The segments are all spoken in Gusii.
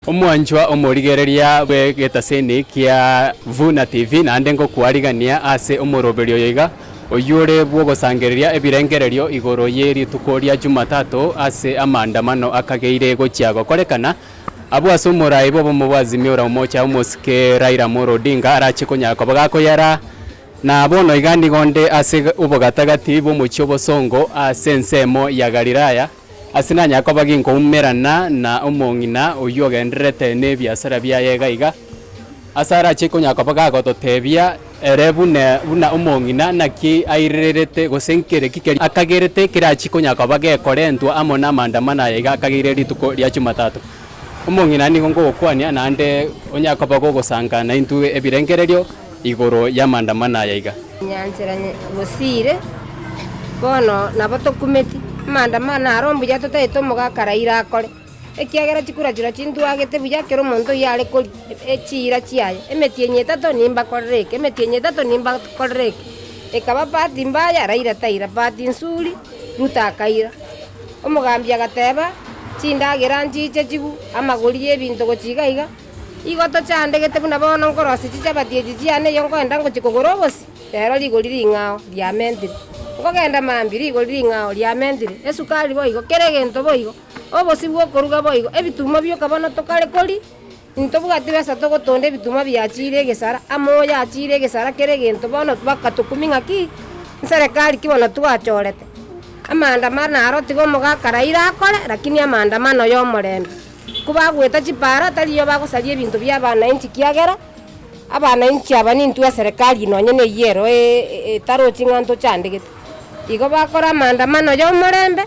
Omwanchwa omorigereria bw'egetaseni kia Vuna TV, naende ngokwarigania ase omoroberio oyo iga, oyore bw'ogosangereria ebirengererio igoro ye rituko ria Jumatato ase amaandamano akageire gochia gokorekana, abwo ase omorai bw'obomo bwa Azimio la Umoja omosike Raila Amolo Odinga arache konyara koba gakoyera, na bono iga nigo nde ase obogatagati bw'omochie obosongo ase ensemo ya Galilaya. Ase nanyare koba ginkoumerana na omong'ina oyio ogendererete nebiasara biaye iga iga, ase arache konyara koba gagototebia ere bune buna omong'ina naki airererete gose nkereki keria akagerete kerachi konyara koba gekorentwa amo namandamano aya iga akageire rituko ria Chumatato. Omong'ina nigo ngogokwania naende onyare koba gogosanka naintwe ebirengererio. igoro y'amandamano aya iga. Nyanchera bosiire, bono nabo tokumeti, amandamano aro mbuya totaete omogaka raira akore, ekiagera chikura chiria chintwagete buya kera omonto oyio are koria chiira chiaye, emetienyi etato nimbakorere eke, emetienyi etato nimbakorere eke. Ekaba pati mbaya, raira taira, pati nsuri, Ruto akaira. Omogambi agateba, chindagera nchiche chigwe, amagori y'ebinto gochia iga iga. Igo tochandegete buna bono nkorosia chichabati echi chiane erio nkoenda ngochia kogora obosie, rero rigori ring'ao riamentire. Nkogenda mambia, rigori ring'ao riamentire, esukari boigo, kera egento boigo, obosie bw'okoruga boigo, ebitumo bioka bono tokare koria, intobwati besa togotonda ebitumo biachiire egesara, amoyo achiire egesara kera egento bono bakatokumia ng'aki, nserekari ki bono twachorete. Amaandamano aro tiga omogaka Raila akore, rakini amaandamano y'omorembe. Kobagweta chipaara taribo bagosaria ebinto bi'abanainchi, kiagera abanainchi aba nintwe eserekari nonye neyio ero etaro ching'anto chiandegete. Igo bakora amaandamano yomorembe,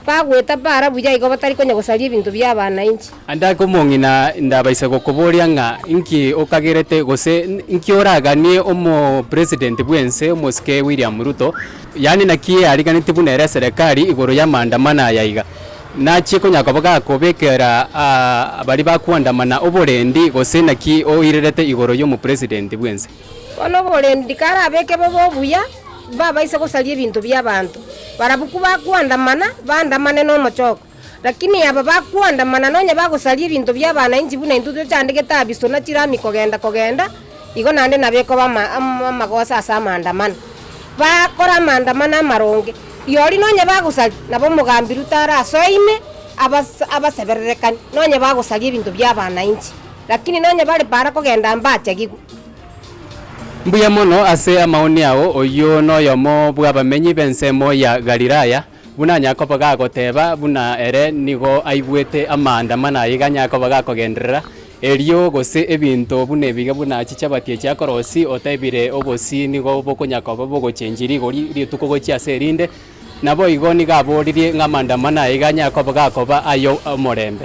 bagweta paara buya igo batari konya gosaria ebinto bi'abanainchi. Ande ake omong'ina ndabaisa gokoboria ng'a inki okagerete gose inki oraganie omopresident bw'ense omosike William Ruto, yaani naki eariganeti buna ere eserekari igoro y'amaandamano aya iga. Nachie konya koba gakobekera baria bakwandamana oborendi, gose naki oirerete igoro y'omopresidenti bw'ense? Bono oborendi karabeke bobe obuya, babaise gosaria ebinto bi'abanto. Barabwo kobakwandamana, bandamane nomochoko. Lakini aba bakwandamana nonya bagosaria ebinto bi'abananchi buna intwe twechandegete Abiso na chirami kogenda kogenda, Igo naende nabekoba amagoso ase amaandamano, bakore amaandamano amaronge, rirorio nonye bagosari, nabo omogambiru tare asoine abasebererekani, nonye bagosaria ebinto bi'abanainchi, lakini nonye bare para kogenda mbachagigwe. Mbuya mono ase amaoni ao, oyio noyomo bw'abamenyi b'ensemo ya Galilaya, Buna Yakobo gagoteeba, buna ere nigo aigwete amanda mana aiga, Yakobo gakogenderera erio, gose ebinto buna ebiga, buna chichabati echi akorosia, otebire, Obosii nigo bokonya koba bogochenchiri igoro rituko gochia ase erinde. Naboigo nigo aboririe ng'a amanda mana aiga Yakobo gakoba aye omorembe.